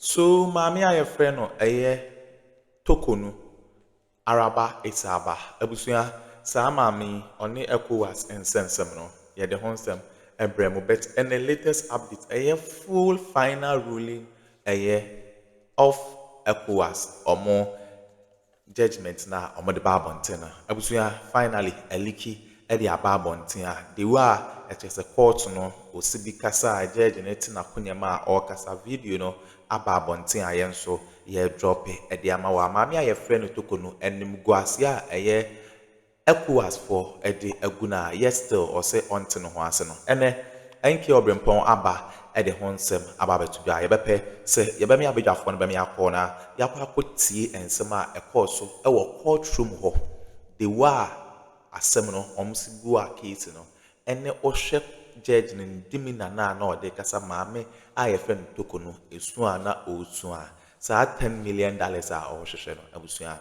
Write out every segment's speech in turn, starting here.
So maame a yɛfrɛ no ɛyɛ Toko no araba Esaaba? Abusua, saa maame yi, ɔne Ecowas nsɛnsɛm no, yɛde ho nsɛm ɛbrɛ mo but ɛnɛ latest update ɛyɛ full final ruling ɛyɛ of Ecowas, ɔmo. Judgement no a ɔmo de ba abɔnten no. Abusua finally Aliki de aba abɔnten a the way a ɛkyerɛ sɛ court no ɔsi bi kasa a judge no te n'akonwa mu a ɔɔkasa video no aba abɔnten a yɛn nso yɛɛ drope de ama wo a maame a yɛfrɛ no Toko no animguaseɛ a ɛyɛ Ecowas foɔ de agu no a yet still ɔse ɔnte ne ho ase no ɛnɛ ɛnkɛɛ ɔbrempɔn aba de ho nsɛm aba abɛto dwa a yɛbɛpɛ sɛ yɛbɛmea badwafoɔ no bɛmea kɔ na yɛakɔ akɔ tie nsɛm a ɛkɔɔ so wɔ court room hɔ de waa asɛm no wɔn se bua case no ɛne ɔhwɛ gyɛɛgye no ne dimina no a na ɔde rekasa maame a yɛfrɛ no Toko no ɛsu a na ɔresua a, saa ten million dollars a ɔrehwehwɛ no abusua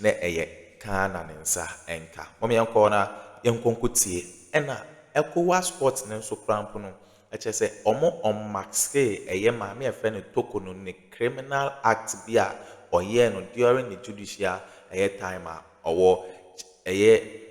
na ɛyɛ kaa na ne nsa nka. Mom yɛnkɔ na yɛnkɔ nkɔ tie ɛna Ecowas sport no nso koraa mpo no ɛkyerɛ sɛ ɔmo ɔnmaskee ɛyɛ maame a yɛfrɛ no Toko no ne criminal act bi a ɔyɛɛ no during ne judicial ɛyɛ time a ɔwɔ ɛyɛ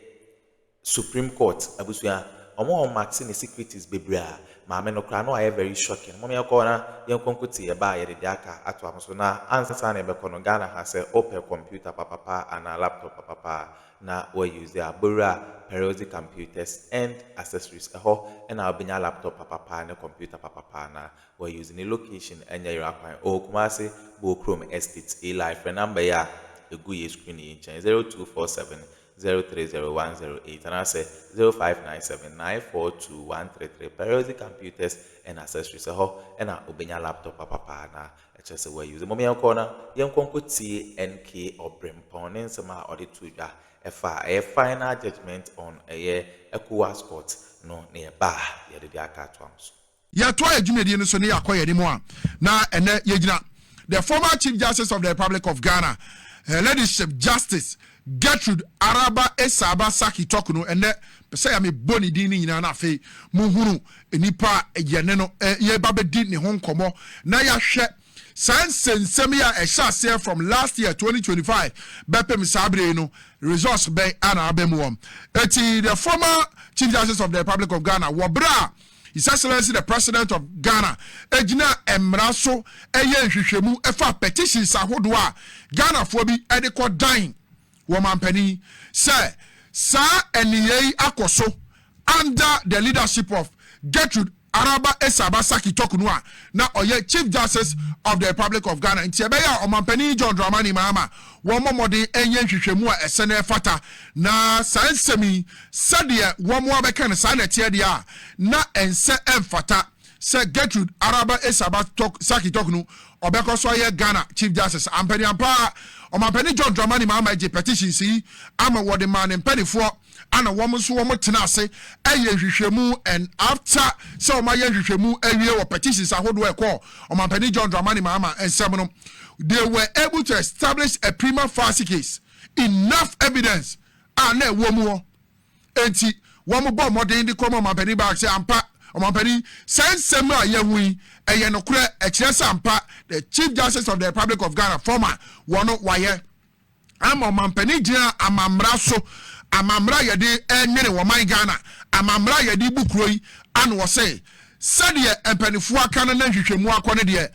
Supreme court abusua ɔmo a ɔmo ate ne secreties bebree a maame no koraa no ayɛ very shocking mom yɛn kɔ na yɛn kɔ nkotee yɛn ba a yɛde dea ka ato amo so na ansa na yɛbɛkɔ no Ghana ha sɛ opɛ computer papapa anaa laptop papapa a na wa use a bowura Peruzzi computers end accessories ɛhɔ na wobenya laptop papapa ne computer papapa na wa use ne location ɛnyɛ yera kwan ɔwɔ Kumasi Bowkrom estate Eli frɛ number yi a egu yɛ screen yi nkyɛn zero two four seven zero three zero one zero eight anaasɛ zero five nine seven nine four two one three three Peruzzi Computers and Accessories ɛhɔ na obenya laptop papa paa na ɛkyerɛ sɛ wa use. Mmom yɛnkɔ na yɛnkɔ nkɔtie NK Ɔbrempɔn ne nsɛm a ɔde too dwa ɛfa ɛyɛ final judgement on ɛyɛ Ecowas court no na yɛba a yɛde de aka atoa mo so. yɛtoa yɛn dwumadie no so ne yɛakɔ yɛn anim a, na ɛnɛ yɛgyina the former Chief Justice of the Republic of Ghana, Her Ladyship Justice Gertrude Araba Esaaba Saki Tɔk no ɛnɛ pɛ sɛ yɛ mebɔ ne din no nyinaa na afei mohunu nnipa a yɛne no yɛba bɛdi ne ho nkɔmmɔ na yɛahwɛ saa nsɛnsɛm yi a ɛhyɛ aseɛ from last year 2025 bɛpem saa berɛ yi no results bɛn ana aba mu wɔm ɛti the former Chief Justice of the Republic of Ghana wɔ berɛ a His Excellency the President of Ghana gyinaa mmara so yɛɛ nhwehwɛmu faa petitions ahodoɔ a Ghanafoɔ bi de kɔ dan wɔ mampanin sɛ saa nneyɛɛ yi akɔ so under the leadership of Gertrude Araba Essaba Sackey Tokunu a na ɔyɛ Chief Justice of the Republic of Ghana nti ɛbɛyɛ a Ɔmampanin John Dramani Mahama wɔmmɔ mmɔden nyɛ nhwehwɛmu a ɛsɛ na ɛfata na saa nsɛm yi Sɛdeɛ wɔn ara bɛka no, saa na ɛteɛ deɛ a, na ɛnsɛ, ɛmfata sɛ Gertrude Araba Essaba Sackey Tork no ɔbɛkɔ so ayɛ Ghana Chief Justice. Ampa ne ampa ara, Ɔmampanin John Dramani Mahama gyee petitions yi ama wɔde maa ne mpaninfoɔ ɛna wɔn nso wɔn tena ase ɛyɛ nhwehwɛmu and after sɛ wɔn ayɛ nhwehwɛmu awie wɔ petitions ahodoɔ ɛkɔɔ Ɔmampanin John Dramani Mahama nsɛm no, they were able to establish a prima facie case, enough evidence a na ɛwɔ mu hɔ. Enti, wɔbɔɔ mmɔden de kɔmaa Ɔmampanin Barak sɛ, Ampa, Ɔmampanin, saa nsɛm a yɛahu yi, ɛyɛ nokorɛ. Ɛkyerɛ sɛ ampa, the Chief Justice of the Republic of Ghana, former, wɔ no, wayɛ ama Ɔmampanin gyina amammara so, amammara a yɛde renwene ɔman Ghana, amammara a yɛde rebu kuro yi ano. Ɔse, Sɛdeɛ mpanimfoɔ aka no na nhwehwɛmu akɔ no deɛ,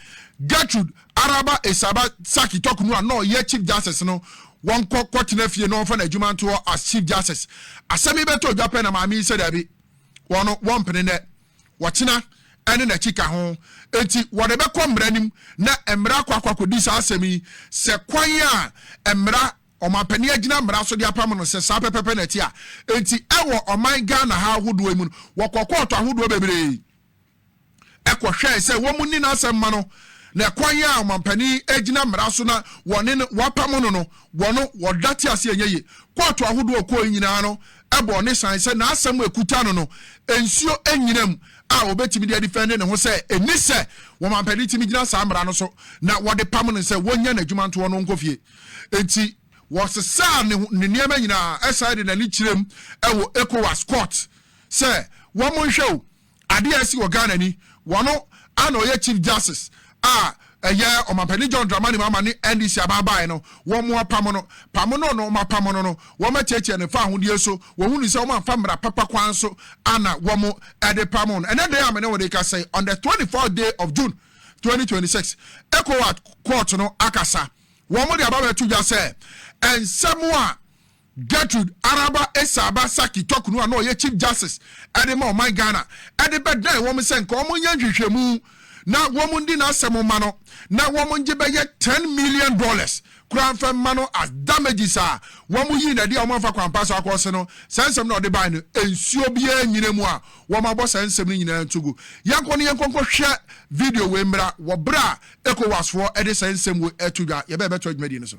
Gertrude Araba Essaba Sarki Toku no a na ɔyɛ Chief Justice no, wɔnkɔ kɔtena fie na wɔmfa n'adwuma nto hɔ as Chief Justice. Asɛm yi bɛtɔɔ dwa pɛ na maame yi sɛ dabi, wɔn no, wɔmpene nnɛ, wɔkyena ne n'akyi ka ho. Enti wɔde bɛkɔ mmara anim na mmara akɔ akɔ akɔdi saa asɛm yi sɛ kwan a mmara ɔmampanin agyina mmara so de apam no sɛ saa pɛpɛpɛ na ɛte a. Enti ɛwɔ ɔman Ghana ha ahodoɔ yi mu no, wɔkɔ kɔɔto ahodoɔ bebree. kɔhwɛe sɛ wɔnni n'asɛm ma no, na ɛkwan a ɔmampanin gyina mmara so na wɔne no wɔapam no no wɔ no, wɔdate ase a ɛnyɛ ye. Kɔɔto ahodoɔ a ɔkɔɔe nyinaa no bɔɔ ne san sɛ n'asɛm a ɛkuta no no, nsuo nnyina mu a ɔbɛtumi de adifɛnde ne ho sɛ ɛnni sɛ ɔmampanin tumi gyina saa mmara no so na wɔde pam no sɛ wɔnnya n'adwuma ntoɔ no nkɔ fie. Enti wɔsesaa ne nneɛma nyinaa san de n'ani kyerɛm wɔ Ecowas Court. sɛ wɔn nhwɛ o adeɛ a ɛsi wɔ Ghana ni wɔno ana ɔyɛ chief justice a ɛyɛ ɔmampanin John Dramani Mahama ne NDC abaabae no wɔn apam no pam no no wɔn apam no no wɔn atiatia ne fa ahodeɛ so wɔn hunu sɛ wɔn amfa mmara papa kwan so ana wɔn ɛde pam no ɛnɛ dɛn a mene wɔde kasa yi on the 24th day of June 2026 ECOWAS court no akasa wɔn de aba bɛto dwa sɛ nsɛm a Gertrude Araba Esaaba Sackey Tɔkunu a na ɔyɛ Chief Justice de ma ɔman Ghana de bɛdan wɔn sɛ nka wɔnyɛ nhwehwɛmu na wɔnni n'asɛm mma no na wɔngye bɛyɛ ten million dollars koraa mfa mma no as damages a wɔyii no adi a wɔamfa kwan pa so akɔse no. Saa nsɛm no a ɔde bae no, nsuo biara nnyina mu a wɔabɔ saa nsɛm no nyinaa nto gu. Yɛnkɔ na yɛnkɔ nkɔhwɛ video wei mmra wɔ berɛ a Ecowas foɔ de saa nsɛm wei reto dwa. Yɛbɛn bɛtoa dwumadie no so.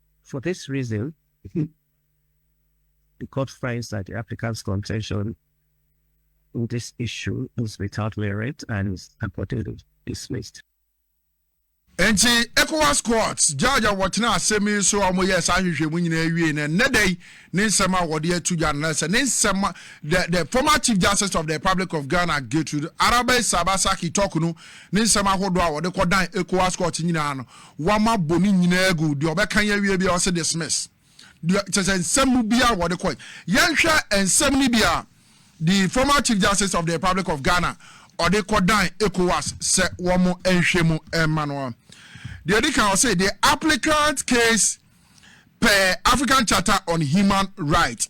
For this reason, the court finds that the applicant's contention on this issue is without merit and is accordingly dismissed. Enti ECOWAS court judge a wɔtena asɛm yi so a wɔyɛɛ saa nhwehwɛmu nyinaa wie no ɛnnɛ da yi ne nsɛm a wɔde ato dwa no sɛ ne nsɛm the the former chief justice of the republic of ghana gertrude arabe sabasaki talk no ne nsɛm ahodoɔ a wɔde kɔdan ECOWAS court nyinaa no Wama bɔ ne nyinaa agu. Deɛ ɔbɛka yi awie biara ɔse dismiss. Deɛ kyerɛ sɛ nsɛm mu biara wɔde kɔe. Yɛnhwɛ nsɛm no bi a the former Chief Justice of the Republic of Ghana ɔde kɔdan ECOWAS sɛ wɔn nhwɛ mu mma no. Deɛ ɛdi kan ɔse the applicant case per African Charter on Human Rights.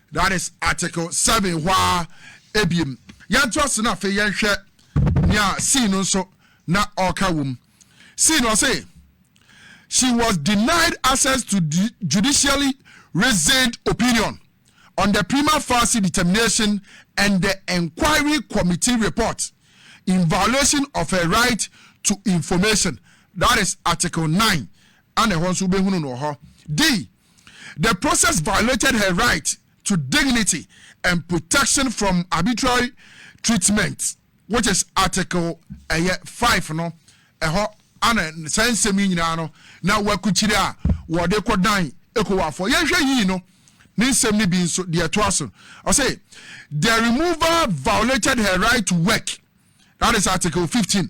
That is article seven hɔ ara ebiem. Yɛnto ase na afei yɛnhwɛ nea C no nso na ɔreka wom. C no ɔse she was denied access to judicially reasoned opinion on the prima facie determination and the inquiry committee report in violation of her right to information that is article nine ana ɛhɔ nso wobɛhunu no wɔ hɔ. D. The process violated her right to dignity and protection from arbitrary treatment which is article ɛyɛ five no ɛhɔ ana saa nsɛm yi nyinaa no na wakukyire a wɔde kɔdan ekowafoɔ yɛnhwɛ yii no ne nsɛm no bi nso deɛ ɛtoa so ɔse the removal violated her right to work that is article fifteen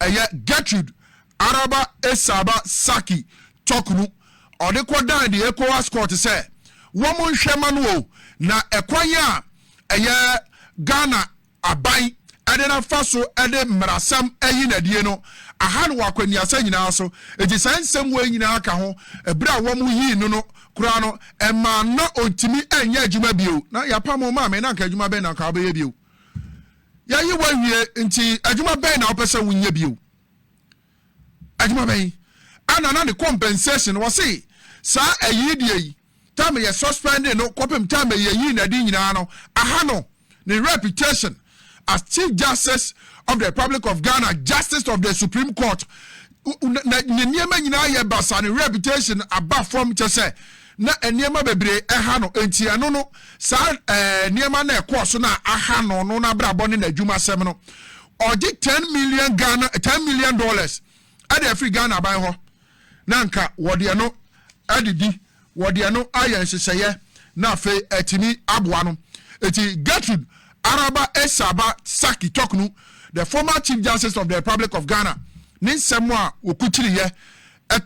Ɛyɛ Gertrud Araba Esaba Saki Toknu, ɔde kɔdan the ECOWAS Court sɛ wɔn nhwɛ mma no o, na ɛkwan a ɛyɛ Ghana aban de no afa so de mmarasɛm ayi no adie no aha no wɔ akwannuasa nyinaa so, enti saa nsɛm wei nyinaa ka ho, ɛberɛ a wɔn yii no no koraa no ɛmaa na ɔntumi nyɛ adwuma bio, na yɛapamo maame na anka adwuma bɛn na anka ɔbɛyɛ bio? Yɛayi wo awie, nti adwuma bɛn na wopɛ sɛ wonyɛ bio? Adwuma bɛn? Ɛna na ne compensation, wɔse saa ayi deɛ yi, tam yɛ suspending no kɔpem tam a yɛyi n'adi nyinaa no, aha no, ne reputation as Chief Justice of the Republic of Ghana, Justice of the Supreme Court, Na na ne nneɛma nyinaa yɛ basaa, ne reputation aba fam kyɛ sɛ na nneɛma bebree ɛha no. Enti ɛno no, saa ɛɛ nneɛma na ɛkɔɔ so na aha no no n'abrabɔ ne n'adwumasɛm no. Ɔgye ten million Ghana ten million dollars ɛde afiri Ghana ban hɔ na nka wɔde ɛno ɛde di Wɔde ɛno ayɛ nhyehyɛeɛ na afei atumi aboa no. Enti Gertrude Araba Essaba Sackey Toknu, the former Chief Justice of the Republic of Ghana, ne nsɛm a wɔkukyiriiɛ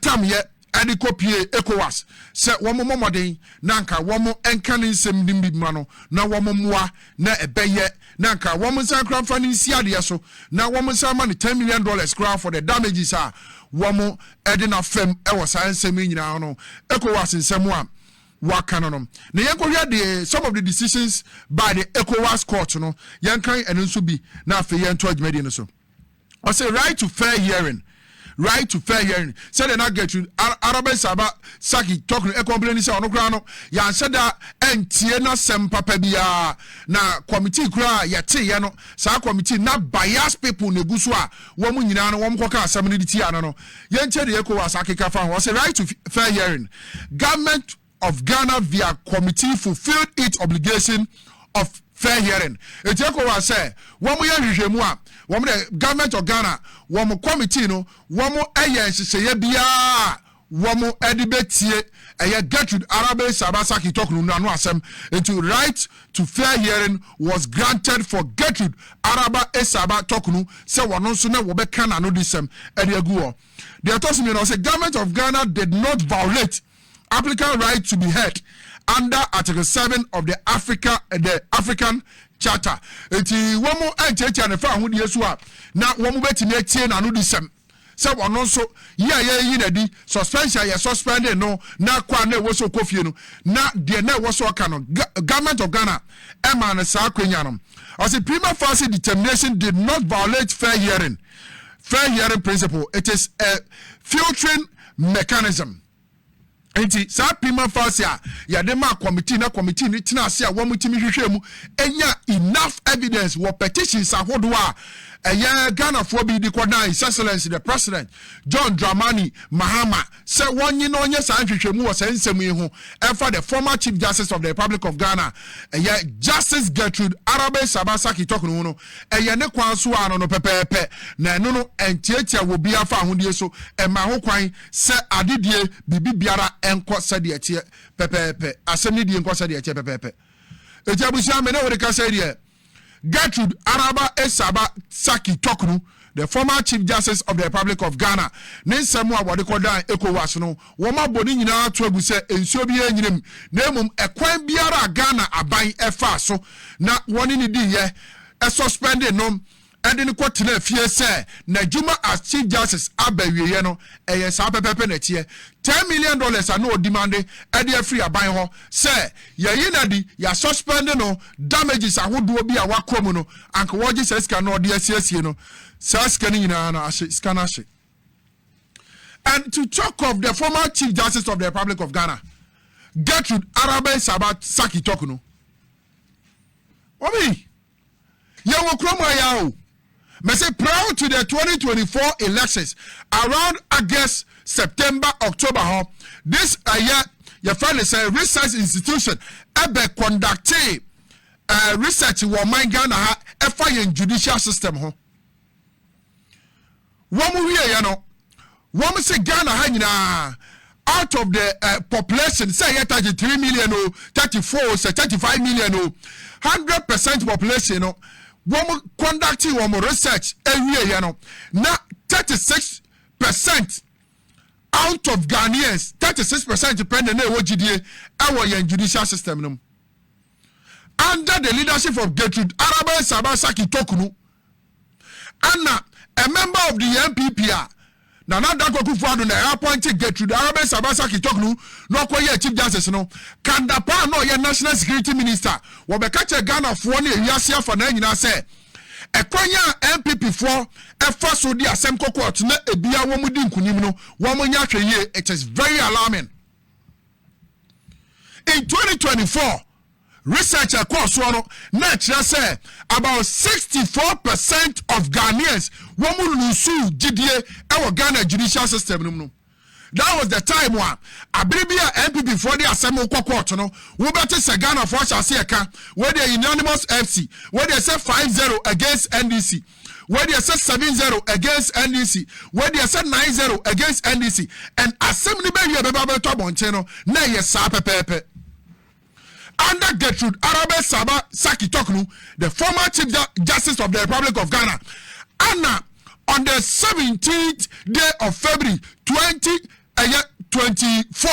tamyɛ de kɔpuee Ecowas sɛ wɔmmɔ mmɔden na anka wɔnka ne nsɛm no bi mma no na wɔmmoa na ɛbɛyɛ na anka wɔn nsa nkora mfa no nsi adeɛ so na wɔn nsa ma no ten million dollars koraa for the damages a wɔn ɛde na fam ɛwɔ saa nsɛm yi nyinaa no ECOWAS nsɛm a wɔaka no no na yɛn kɔhwɛ de some of the decisions by the ECOWAS court no yɛn kan ɛno nso bi na afei yɛn to adwumadie no so. Ɔse right to fair hearing right to fair hearing sɛdeɛ na Gertrude Arabin Saba Saki Tok no ɛkɔmplɛn ni sɛ ɔno koraa no yɛanhyɛ da ɛntie n'asɛm papa biara na kɔmitii koraa yɛteeɛ no saa kɔmitii na bias people na egu so a wɔn nyinaa no wɔn kɔka asɛm no de tia no no yɛntie deɛ ECOWAS akeka fa ho ɔse right to fair hearing government of Ghana via committee fulfilled its obligation of fair hearing. Eti ECOWAS sɛ wɔn yɛ nhwehwɛmu a, wɔn dɛ Government of Ghana, wɔn committee no, wɔn yɛ nhyehyɛeɛ biara a wɔn de bɛtie ɛyɛ Gertrude Arabe Saba Sackey Toknu no ano asɛm. Enti right to fair hearing was granted for Gertrude Araba Esaba Toknu sɛ wɔn nso na wɔbɛka n'anodisɛm de agu hɔ. Deɛ ɛtɔ so mmienu, ɔsɛ Government of Ghana did not violate Applicant right to be heard under Article seven of the Africa the African Charter. Eti wɔn ntiatia ne fa ahodeɛ so a na wɔn bɛtumi atie n'ano di sɛm sɛ ɔno nso yi a yɛyi n'adi suspension yɛ suspending no na kɔ a na ɛwɔ so kɔ fie no na deɛ na ɛwɔ so ɔka no government of Ghana ɛma no saa akwanya no ɔsi prima facie determination did not violate fair hearing fair hearing principle it is a filtering mechanism. Nti saa prima facie a yɛde maa committee na committee no tena ase a wɔtumi hwehwɛ mu nya enough evidence wɔ petitions ahodoɔ a ɛyɛ Ghanafoɔ bi de kɔdan His Excellency the President John Dramani Mahama sɛ wɔnye na ɔnyɛ saa nhwehwɛmu wɔ saa nsɛm yi ho ɛfa the former Chief Justice of the Republic of Ghana ɛyɛ Justice Gertrude Arabe Saba Saki Tokno ho no Ɛyɛ ne kwan so ara no no pɛpɛɛpɛ, na ɛno no ntiatia wɔ obiara fahodie so, ɛma ho kwan sɛ ade die, biribi biara nkɔ sɛdeɛ ɛteɛ pɛpɛɛpɛ, asɛm no die nkɔ sɛdeɛ ɛteɛ pɛpɛɛpɛ. Enti abusua, me ne wo rekasa yi deɛ, Gertrud Araba Esaba Tsaki Toknu The former Chief Justice of the Republic of Ghana ne nsɛm a wɔde kɔdan Ecowas no, wɔabɔ ne nyinaa ato agu sɛ nsuo biara nnyina mu, na mmom ɛkwan biara a Ghana aban faa so na wɔne no diiɛ, suspendee no de no kɔtenaa fie sɛ n'adwuma as Chief Justice aba awieɛ no, ɛyɛ saa pɛpɛɛpɛ na ɛteɛ. Ten million dollars a na ɔdimande de afiri aban hɔ sɛ Yɛyi no adi, yɛ suspend no damages ahodoɔ bi a wakɔ mu no, anka wɔgye saa sika no na wɔde asiesie no, saa sika no nyinaa no ahye, sika no ahye. And to talk of the former Chief Justice of the Republic of Ghana, Gertrude Arabeh Sabah Saki Tok no, wɔn yi Yɛ wɔ kurom ha ya o. Mese prior to the 2024 elections around August, September, October hɔ this ɛyɛ yɛfrɛ ne sɛ research institution ɛbɛ conducte uh, research wɔ ɔman Ghana ha ɛfa yɛn judicial system ho. Wɔn wieɛ no, wɔn se Ghana ha nyinaa out of the uh, population sɛ ɛyɛ 33 million o 34 o sɛ 35 million o 100 percent population no wɔn conducting wɔn research awieɛ no na 36 percent out of Ghanaians 36 percent pɛ na na ɛwɔ gyidie ɛwɔ yɛn judicial system no mu under the leadership of Gertrude Araba Saba Saki Tokunu Ana, a member of the NPP a Nana Addo Akufo-Addo na appointe Gertrude Arabes Abasa Kitoknu na ɔkɔyɛɛ Chief Justice no, Kanda pa a na ɔyɛ National Security Minister, wɔbɛka kyerɛ Ghanafoɔ ne ewiase afanaa nyinaa sɛ ɛkwan a NPP foɔ fa so de asɛm kɔ court na ebia wɔn di nkunim no wɔn nyɛ ahwɛyie, it is very alarming. In 2024, Research a ɛkɔɔ soɔ no na ɛkyerɛ sɛ about sixty four percent of Ghanaians wɔn lusu gyidie ɛwɔ Ghana judicial system no mu no. That was the time a abere bi a NPP foɔ de asɛm wokɔ court no wobɛte sɛ Ghana foɔ ahyɛ ase ɛka wei deɛ unanimous FC wei deɛ sɛ five zero against NDC wei deɛ sɛ seven zero against NDC wei deɛ sɛ nine zero against NDC and asɛm no bɛwie bɛba bɛtɔ abɔnten no na ɛyɛ saa pɛpɛɛpɛ. Under Gertrude Arabeh Saba Saki Toknu, the former Chief Justice of the Republic of Ghana, ana on the 17th day of February 20 ɛyɛ 24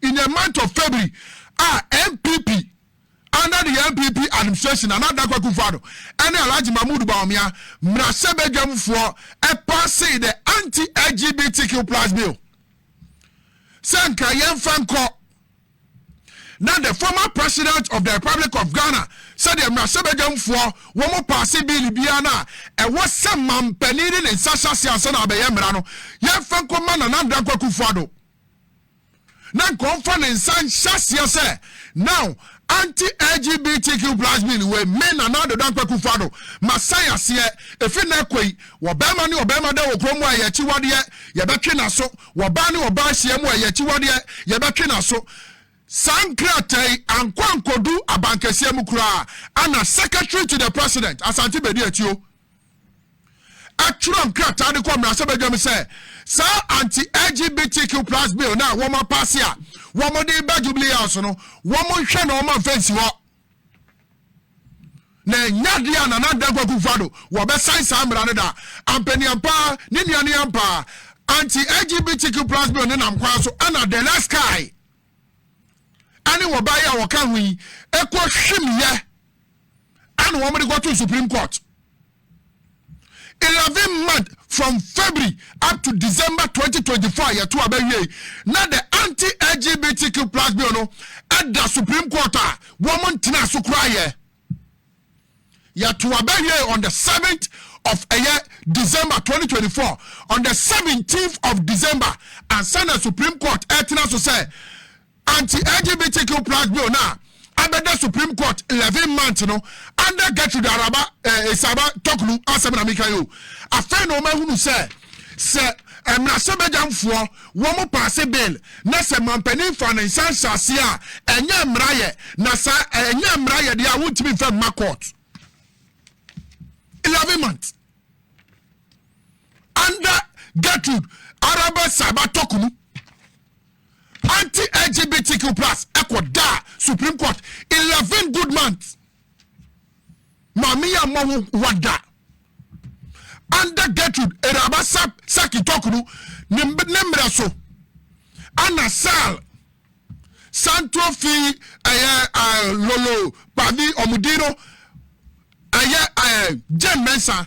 in the month of February a NPP under the NPP administration Nana Addo Akufo-Addo ɛne Alhaji Mahmood Bawumia mmarahyɛbadwamfoɔ ɛpaase the anti-LGBTQ plus bill sɛ nka yɛmfa nkɔ Na the former president of the republic of ghana sɛdeɛ mmarahyɛbadwamfoɔ wɔn paase biili biara no a ɛwɔ sɛ mampanin de ne nsa hyɛ ase ansa na abɛyɛ mmara no yɛmfa nkɔma nana adodankɔ akufo ado na nkɔmfa ne nsa nhyɛ aseɛ sɛ now anti lgbtq plus bill wei me nana adodankɔ akufo ado masan aseɛ ɛfiri na ɛkɔ yi wɔbɛrima ne wɔbɛrima da wɔ kurom a yɛakyiwadeɛ yɛbɛtwe n'aso Wɔbaa ne wɔbaa hyia mu a ɛyɛ akyiwadeɛ, yɛbɛtwe n'aso. Saa nkrataa yi ankɔ ankɔdu abankɛseɛ mu koraa ana Secretary to the President, Asante Bedi Atuo, atwerɛ nkrataa de kɔ mmarahyɛbadwa mu sɛ saa anti-LGBTQ plus bill no a wɔn apaase a wɔn de ba Jubilee House no, wɔn nhwɛ na wɔn amfa nsi hɔ. na ɛnyɛ adeɛ a Nana Dankwa Akufo Addo wɔbɛsan saa mmara no da. Ampaniampaa, ne nua ne ampaa, anti-LGBTQ plus bill no nam kwan so ɛna De La Sky ɛne wɔbaa yi a wɔka ho yi ɛkɔ hwimyɛ ɛna wɔn de kɔto Supreme Court. Eleven month from February up to December twenty twenty four a yɛto aba wiei na the anti-LGBTQ plus bill no da Supreme Court a wɔn ntena so koraa yɛ. Yɛto aba wiei on the seventh of ɛyɛ December twenty twenty four on the seventeenth of December ansa na Supreme Court ɛtena so sɛ Anti-LGBTQ plus bill no a abɛda Supreme Court eleven months no under Gertrude Araba eh, Esaba Toklu asɛm na meka yi o. Afei na wɔahunu sɛ sɛ mmarahyɛbadwamfoɔ wɔn paase bill na sɛ mampanin fa ne nsa nhyɛ aseɛ a ɛnyɛ mmara yɛ na saa ɛnyɛ mmara yɛ deɛ a wontumi nfa mma court. Eleven months under Gertrude Araba Esaba Toklu. Anti-LGBTQ plus ɛkɔ daa Supreme Court eleven good months. Maame yɛ mmɔ ho wada. Under Gertrude Eraba Saki Tokuru ne mmerɛ so ana Sal Santo fi ɛyɛ eh, Lolo Pavi Omudino ɛyɛ eh, Jane Mensah.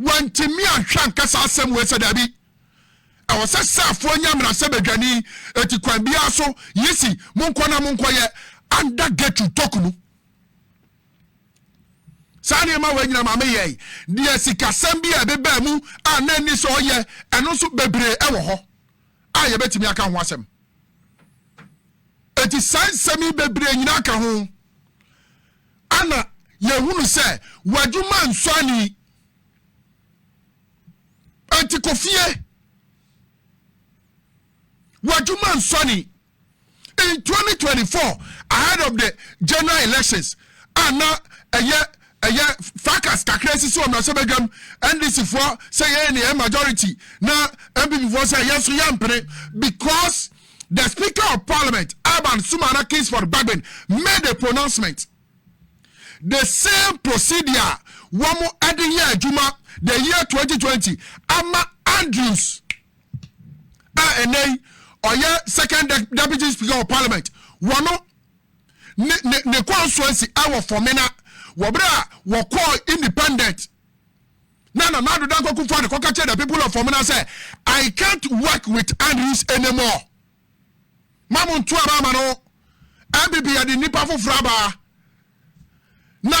Wɔantumi anhwɛ anka saa asɛm wei sɛ, Dabi, ɛwɔ sɛ saafoɔ nya mmarahyɛbadwani, enti kwan biara so, yi si, monkɔ na monkɔyɛ under Gertrude Toku no. Saa nneɛma wei nyina maame yɛe, deɛ sikasɛm bi a ɛbebaa mu a na nni sɛ ɔyɛ, ɛno nso bebree ɛwɔ hɔ a yɛbɛtumi aka ho asɛm. Enti saa nsɛm yi bebree nyina ka ho. Ana yɛhunu sɛ w'adwuma nsɔ ani? Enti kɔ fie. W'adwuma nsɔ ani. In 2024, ahead of the general elections, a na ɛyɛ ɛyɛ fracas kakra sisi wɔ mmarahyɛbadwam, NDC foɔ sɛ yɛyɛ ne yɛn majority na NPP foɔ sɛ yɛn nso yɛmpene because the Speaker of Parliament, Alban Sumana Kingsford Bagbin, made a pronouncement. The same procedure a wɔn de yɛ adwuma the year 2020 ama Andrews a ɛnɛ yi ɔyɛ second de deputy speaker of parliament wɔn ne ne ne constituency ɛwɔ Fɔmena wɔbere a wɔkɔɔ independent na Nana Addo Dankwa Kufuor-Addo kɔka kyerɛɛ the people of Omena sɛ, I can't work with Andrews anymore. Ma mo nto aba ama no. Ɛbibi yɛde nnipa foforɔ aba. Na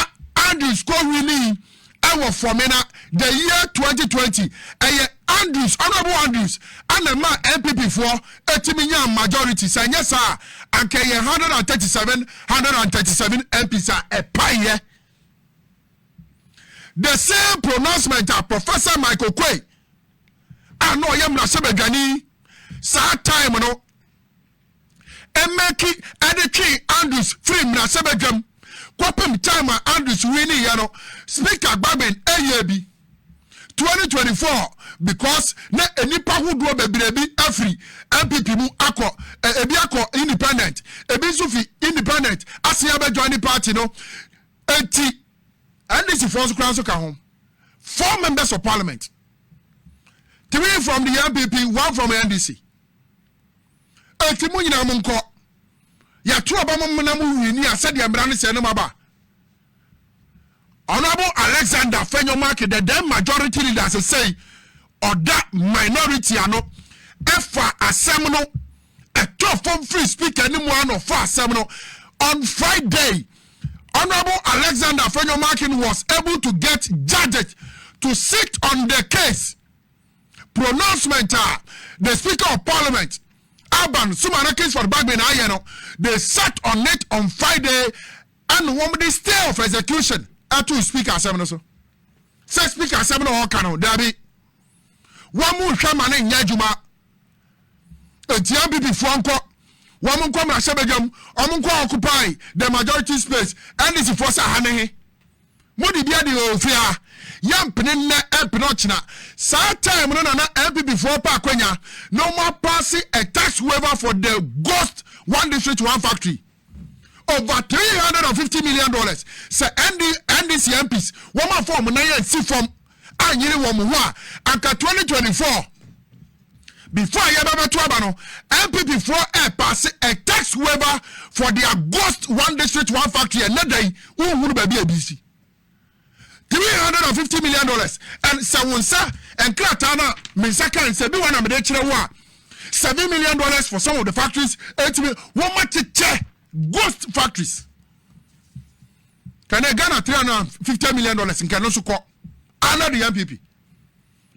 Andrews kɔ winning ɛwɔ Fɔmena the year 2020. Ɛyɛ Andrews, Honourable Andrews, ɛna ma NPP foɔ ɛtumi nya majority. Sɛ nyɛ saa, anka ɛyɛ 137, 137 MPs a ɛpaeɛ. The same pronouncement a Professor Michael Quay a na ɔyɛ mmarahyɛbadwani saa time no mmɛki ɛde twe Andrews firi mmarahyɛbadwam kɔpem time a Andrews win ne yɛ no Speaker Gbagben ɛyɛ bi 2024 because na nnipa hodoɔ bebree bi afiri NPP mu akɔ ebi akɔ independent ebi nso fi independent asen abɛdwa ne party no Eti NDC foɔ nso koraa nso ka ho. Four members of parliament. Three from the NPP, one from NDC. Eti mo nyinaa mo nkɔ. Yɛto aba mo mena mo wini a sɛdeɛ mmara ne sɛ no mo aba. Honorable Alexander Fenyomark, the then majority leader, say ɔda minority ano ɛfa asɛm no ɛtɔ fam free speaker ne mu ano fa asɛm no on Friday. Honourable Alexander Afenyo-Markin was able to get judges to sit on the case. Pronouncement a the Speaker of Parliament, Alban Summahina Kingsford Bagbin ayɛ no, they sat on it on Friday and wɔn de stay of execution ɛto Speaker asɛm no so. Sɛ Speaker asɛm no ɔka no, dabi, wɔn hwɛ ma no nyɛ adwuma Enti NPP foɔ nkɔ, wɔn nkɔ mmarahyɛbadwam, wɔn nkɔ occupy the majority space, NDC foɔ sɛ aha ne he? Mo de bia de oo fia, yɛ mpene nnɛ ɛmpene ɔkyena. Saa time no na na NPP foɔ pa akwanya na wɔn apaase a tax waiver for the ghost one district one factory over three hundred and fifty million dollars sɛ ND, NDC MPs wɔn afa wɔn nan ansi fam anyere wɔn ho a anka twenty twenty four before a yɛbɛbɛto aba no npp foɔ ɛɛpaase a tax waiver for their ghost one district one factory ɛnɛ da yi wohunu baabi a ebi si three hundred and fifty million dollars and sɛ wɔn nsa nkrataa na me nsa kan sɛ bi wɔn na mede kyerɛ wo a seven million dollars for some of the factories ɛtumi wɔn ma kyekyɛ. ghost factories kane ghana three hundred and fifty million dollars nkɛ no nso kɔ ana de npp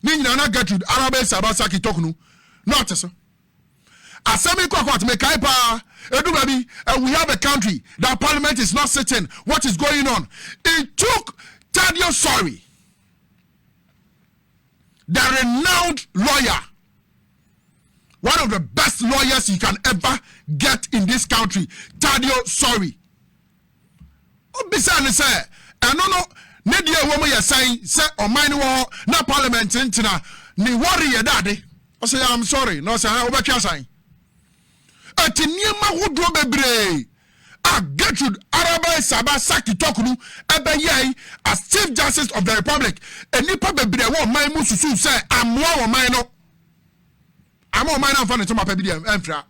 ne nyinaa na gertrude araba esaba saki tɔk no na ɔte so asɛm yi kɔkɔ atome kae paa edu baabi and we have a country that parliament is not sitting what is going on it took tadio sorry the renowned lawyer, one of the best lawyers you can ever get in this country, Tadio Sorry. Obisa ne sɛ ɛno no ne deɛ ɛwɔ mu yɛ sɛn sɛ ɔman no wɔ hɔ na parliament ntena ne wɔreyɛ dade. Ɔsɛ I'm sorry na ɔsɛ ha wobɛtwe asan. Ɛte nneɛma hodoɔ bebree a Gertrude Arabay Saba Saki Toklu bɛyɛe as Chief Justice of the Republic. Nnipa bebree a ɛwɔ ɔman mu susuw sɛ ammoa ɔman no ama ɔman no amfa ne nsɛm papa bi deɛ amfira.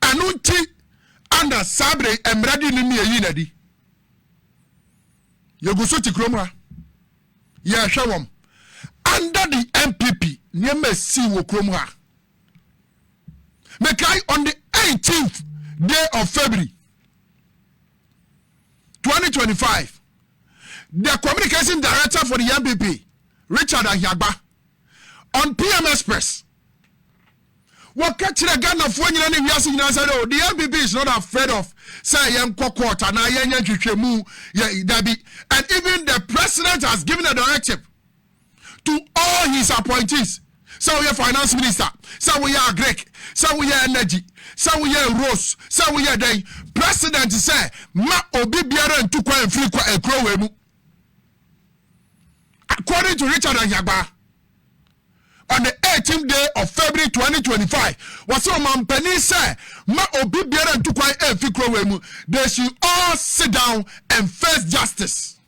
Ɛno nti ana saa bere mmerɛde no ne ɛyi na di. Yɛgu so te kurom ha. yɛhwɛ wɔn under the npp nneɛma esii wɔ kurom ha mekae on the 18th day of february 2025 the communication director for the npp richard ahiagba on pm express Wɔka kyerɛ Ghanafoɔ nyinaa ne wiase nyinaa sɛ no, the NPP is not afraid of sɛ yɛnkɔ court anaa yɛnyɛ nhwehwɛmu yɛ dabi. And even the president has given a directive to all his appointees sɛ woyɛ finance minister, sɛ woyɛ agric, sɛ woyɛ energy, sɛ woyɛ rose, sɛ woyɛ dɛn. President sɛ ma obi biara ntu kwan mfiri kwa ekuro wei mu. According to Richard Ahiagbaa. on the 18th day of February 2025. Was so man penny say, ma obi biara ntu kwan efi kurowe mu. They should all sit down and face justice.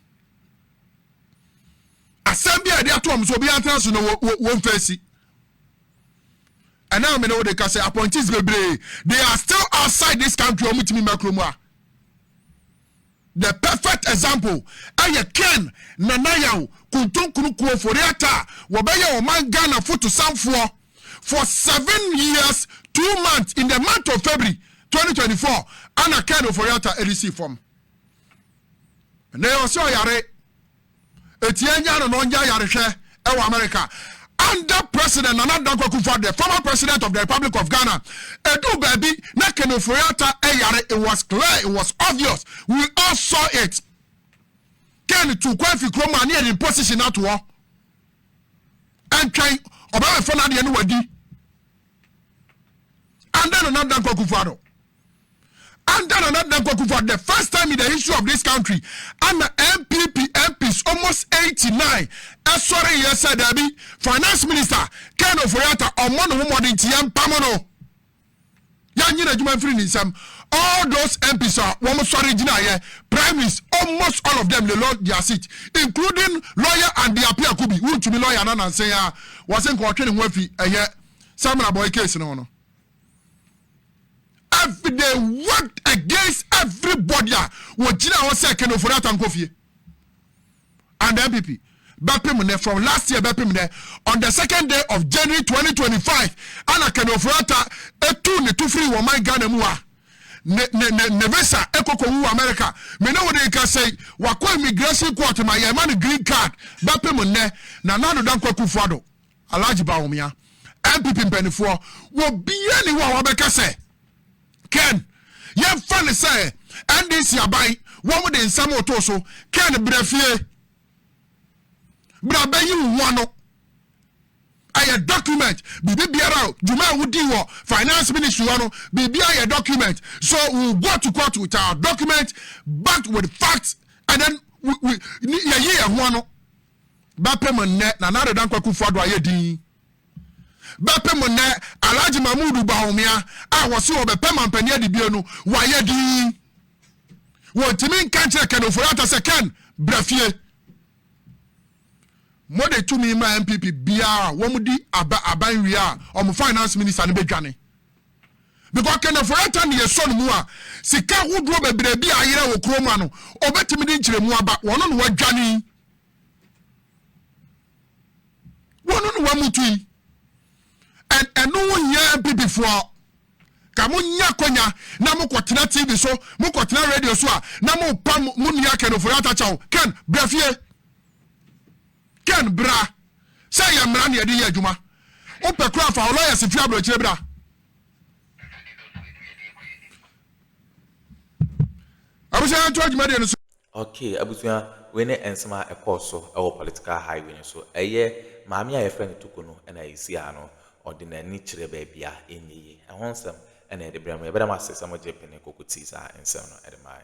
Asɛm bi a yɛde ato wɔn so obi antena so no wɔn fɛsi. Ɛna mi na wɔde ka sɛ appointees bebree they are still outside this country wɔn ti mi mɛ kurom a. The perfect example yɛ Ken Nana Yaw Kontonkuro Kuo fo reata a wɔbɛyɛ ɔman Ghana fo to sanfoɔ for seven years two months in the month of February twenty twenty four ana Ken Ofori-Atta ɛde sii fam. Ɛnɛ ɔsɛ ɔyare. Etia nya no na ɔngya yarehwɛ wɔ America. Under President Nana Dankwa Akufo-Addo, the former President of the Republic of Ghana, eduu baabi na Ken Ofori-Atta yare, it was clear, it was obvious, we all saw it. Ken tu kwan fi kurom a ne yɛde position ato hɔ. Ɛntwɛn, ɔbɛbɛfa n'adeɛ no wadi. Under Nana Dankwa Akufo-Addo. Under Nana Dankwa Kufuor, the first time in the history of this country, ana NPP MPs almost 89 ɛsɔre yɛ sɛ daabi, finance minister Ken Ofori-Atta ɔmmɔ ne ho mmɔden nti yɛmpam no. Yɛanyere adwuma mfiri ne nsam. All those MPs a wɔn sɔre gyinaeɛ, primaries, almost all of them they lost their seat, including lawyer Andy Appiah Kubi, wontumi lawyer no ananse ya, wɔse nka ɔtwe ne ho afi ɛyɛ Samina Boy case no ho no. Every day worked against everybody a wɔgyina hɔ sɛ Ken Ofori Atta nkɔ fie and NPP bɛpem nnɛ from last year bɛpem nnɛ on the second day of January 2025 ana Ken Ofori Atta etu ne to firi wɔn man Ghana mu a ne ne ne ne visa ekoko wu America me ne wɔde nka sɛ wakɔ immigration court ma yɛn ma no green card bɛpem nnɛ na Nana Dankwa Akufo-Addo Alhaji Bawumia, NPP mpanimfoɔ, wɔ biara ni hɔ a wɔbɛka sɛ Ken yɛmfa no sɛ NDC aban wɔn de nsɛm oto so Ken brɛ fie brɛ bɛyi wo ho ano ɛyɛ document biribi biara o dwuma a wodi wɔ finance ministry hɔ no biribi ayɛ document so we go to court with our document backed with facts and then we we yɛyi yɛn ho ano. Bɛpem nnɛ Nana Ado Dankwa Akufo-Addo ayɛ din. Bɛpem nnɛ Alhaji Mahmood Bawumia a wɔse ɔbɛpɛ mampanin adibea no, wayɛ din. Wɔntumi nka nkyerɛ Ken Ofori-Atta sɛ, Ken, bra fie. Mode tumi ma NPP biara a wɔdi aba aban wie a, wɔn finance minister no bɛdwane. Because Ken Ofori-Atta ne yɛsɔ no mu a, sika hodoɔ bebree bi a ayera wɔ kurom ano, ɔbɛtumi de nkyerɛmu aba, wɔno na wadwane yi. wɔno ne wɔmutu yi ɛno ho hia bibifoɔ ka monya akwanya na mokɔtena tv so mokɔtena radio so a na mopa mo nua kɛnofori atakyɛw kɛn bra fie kɛn bra sɛ yɛ mmara ne yɛde yɛ adwuma wopɛ kora fa ɔlɔyɛ se firi aborɔkyerɛ bra abusua yɛnto adwuma deɛ no so Okay abusua wei ne nsɛm a ɛkɔɔ so wɔ political highway no so. Ɛyɛ maame a yɛfrɛ no Tuku no na ɛsii ano. Ɔde n'ani kyerɛ baabi a ɛnyɛ yie. Ɛho nsɛm na yɛde brɛ mo. Yɛbɛda mo ase sɛ mogye pene kokutii saa nsɛm no de mae.